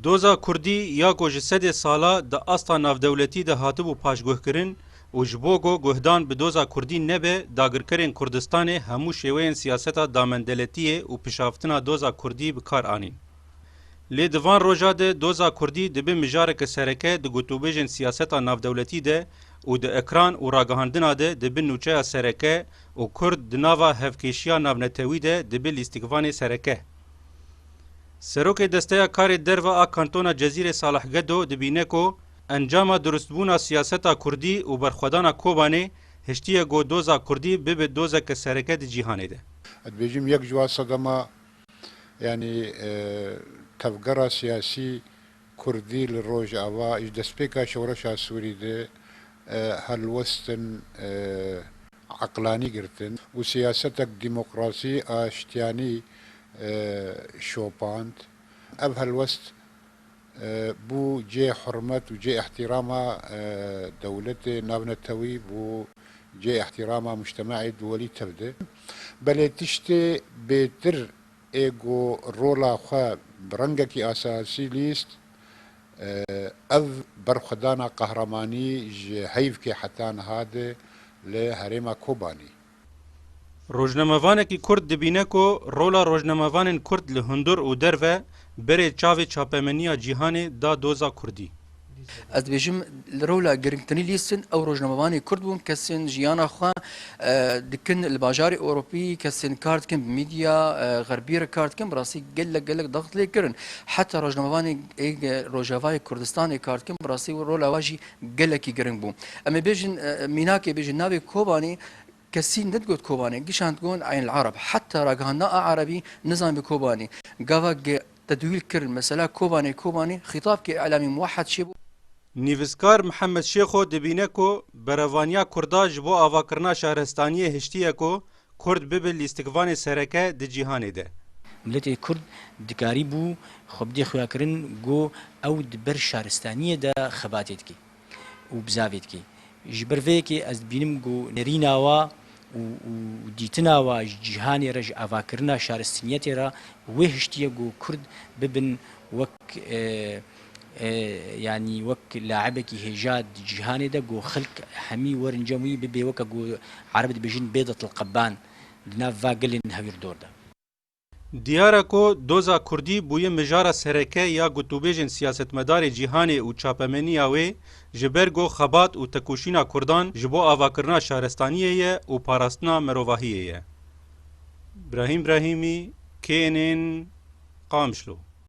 Doza Kurdî ya ku ji sedê sala di asta navdewletî de hatibû paşguhkirin û ji bo ku guhdan bi doza Kurdî nebe, dagirkerên Kurdistanê hemû şêweyên siyaseta damendeletiyê û pişaftina doza Kurdî bi kar anîn. Lê di van roja de doza Kurdî dibe mijareke sereke di gotûbêjên siyaseta navdewletî de û di ekran û ragihandina de dibe nûçeya sereke û Kurd di nava hevkêşiya navnetewî de dibe lîstikvanê sereke. Serokê Desteya Karê Derve a Kantona Cezîrê Salih Gedo dibîne ku encama durustbûna siyaseta kurdî û berxwedana Kobanê hiştiye ku doza kurdî bibe dozeke sereke di cîhanê de. Ez dibêjim yek ji wan sedema yanî tevgera siyasî Kurdî li Rojava ji destpêka şoreşa Sûrî de helwestin eqlanî girtin û siyasetek demokrasî, aştiyanî şopand. Ev helwest bû cê hurmet û cê îhtîrama dewletê navnetewî û cê îhtîrama mûctema'ê duwelî tevde. Belê tiştê bêtir Ê ku rola xwe bi rengekî asasî lîst, ev berxwedana qehremanî ji heyvkê heta niha di li herêma Kobanî. Rojnamevanekî kurd dibîne ku rola rojnamevanên kurd li hundur û derve berê çavê çapemeniya cîhanê da doza kurdî. Ez dibêjim li rola girngtirîn lîstin ew rojnamevanê kurd bûn kesên jiyana xwe dikin li bajarê Ewropî kesên kar dikin bi mîdya xerbî re kar dikin bi rastî gelek gelek daxt lê kirin heta rojnamevanê rojavayê Kurdistanê kar dikin bi rastî rola we jî gelekî giring bû. Em ê bêjin mînakê bêjin navê Kobanê Kesî nedigot Kobanê, gişand got Eyn'l-Arab. Heta ragihandina a Erebî nizanibû Kobanê. Gava ge tedwîl kirin mesela Kobanê Kobanê, xîtab ke îlamî muwehed çêbû. Nivîskar Mihemed Şêxo dibîne ku berevaniya Kurda ji bo avakirina şaristaniyê hiştiye ku Kurd bibe lîstikvanê sereke di cîhanê de. Miletê Kurd dikarîbû xwe bidê xuyakirin ku ew di ber şaristaniyê de xebatê dike. û bi zavê dike. Ji ber vê yekê ez dibînim ku nerîna wa û dîtina wa ji cîhanê re ji avakirina şaristinyetê re wê hiştiye ku kurd bibin wek yanî wek laibekî hêja di cîhanê de ku xelk hemî werin cem wî bibê weke ku erib dibêjin bêdetl qeban di nav va gelên hewîrdor de. Diyar e ku doza kurdî bûye mijara sereke ya gotûbêjên siyasetmedarê cîhanê û çapemeniya wê ji ber ku xebat û tekoşîna kurdan ji bo avakirina şarestaniyê ye û parastina mirovahiyê ye. Brahîm Brahîmî, KNN, Qamişlo.